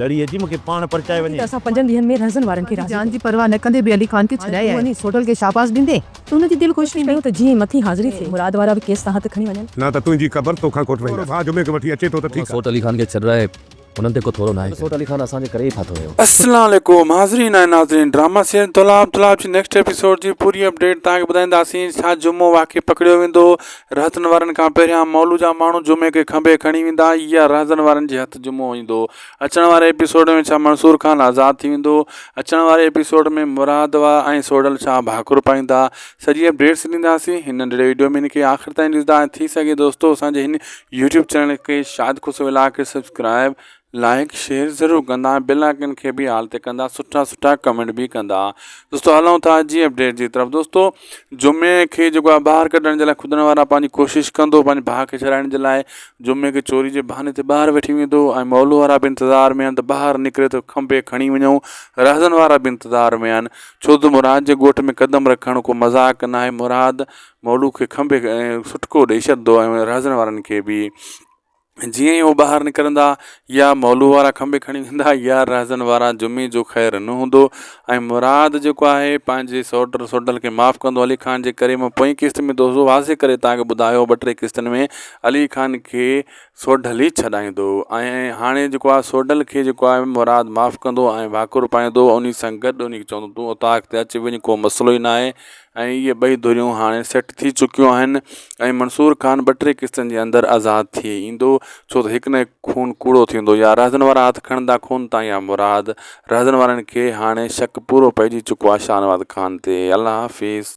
لڙي اچي مون کي پاڻ پرچائي وڃي. ته اسان پنجن ڏينهن ۾ رهزن وارن کي راضي ڪيو. جان جي پرواهه نه ڪندي به علي خان کي ڇڏائي آيو. وڃيس هوٽل کي شاباس ڏيندي ته هن جي دل خوش ٿيندي. ڪيون ته جيئن مٿي حاضري ٿئي. مراد وارا به ڪيس تان هٿ کڻي وڃن. نه ته تنهنجي قبر توکان کوٽوائينداسين. ٿورو ڀاء جمعي کي وٺي اچي ٿو ته ٺيڪ آ. سوٽ علي خان کي ڇڏرائي هنن تي ڪو ٿورو ناهي ڪيو. سوٽ علي خان اسان جي ڪري ئي ڦاٿو ويو. السلام عليڪم حاضرين ۽ ناظرين ڊراما سيريل طلاب طلاب جي نيڪسٽ ايپيسوڊ جي پوري اپڊيٽ توهان کي ٻڌائينداسين ڇا جمعو واقعي پڪڙيو ويندو رهزن وارن کان پهريان مئل جا ماڻهو جمعي کي کنڀي کڻي ويندا يا رهزن وارن جي هٿ جمعو ايندو اچڻ واري ايپيسوڊ ۾ ڇا منصور خان آزاد ٿي ويندو اچڻ واري ايپيسوڊ ۾ مراد وا ۽ سوڍل ڇا ڀاڪر پائيندا سڄي اپڊيٽس ڏينداسين هن ننڍڙي وڊيو ۾ هن کي آخر تائين ڏسدا ۽ ٿي سگهي دوستو اسان جي هن يوٽيوب چينل کي شاهد خوش ولاگ کي سبسڪرائب لائيڪ شيئر ضرور ڪندا ۽ بيل آئيڪن کي به آل تي ڪندا سٺا سٺا ڪمينٽ به ڪندا دوستو هلون ٿا جي اپڊيٽ جي طرف دوستو جمعي کي جيڪو آهي ٻاهر ڪڍڻ جي لاء خدن وارا پنهنجي ڪوشش ڪندو پنهنجي ڀاء کي ڇڏائڻ جي لاء جمعي کي چوري جي بهاني تي ٻاهر وٺي ويندو ۽ مئل وارا به انتظار ۾ آهن ته ٻاهر نڪري ته کنڀي کڻي وڃون رهزن وارا به انتظار ۾ آهن ڇو ته مراد جي ڳوٺ ۾ قدم رکڻ ڪو مذاق ناهي مراد مئل کي کنڀي سٽڪو ڏئي ڇڏندو ۽ رهزن وارن کي به جيئن ئي هو ٻاهر نڪرندا، يا مولوء وارا کنڀي کڻي ويندا، يا رهزن وارا جمعي جو خير نه هوندو ۽ مراد جيڪو آهي، پنهنجي سوٽ سوڍل کي معاف ڪندو علي خان جي ڪري مون پوئين قسط ۾ دوزو واضح ڪري توهان کي ٻڌايو ٻه ٽي قسطن ۾ علي خان کي سوڍل ئي ڇڏائيندو ۽ هاڻي جيڪو آهي سوڍل کي جيڪو آهي مراد معاف ڪندو ۽ ڀاڪر پائيندو انهي سان گڏ انهي کي چوندو تون اوطاق تي اچ وڃ ڪو مسئلو ئي ناهي ۽ اهي ٻئي ڌريون هاڻي سيٽ ٿي چڪيون آهن ۽ منصور خان ٻه ٽي قسطن جي اندر آزاد ٿي ايندو ڇو ته هڪ نه هڪ خون ڪوڙو ٿيندو يا رهزن وارا هٿ کڻندا خون تان يا مراد رهزن وارن کي هاڻي شڪ پورو پئجي چڪو آهي شاهنواز خان تي الله حافظ.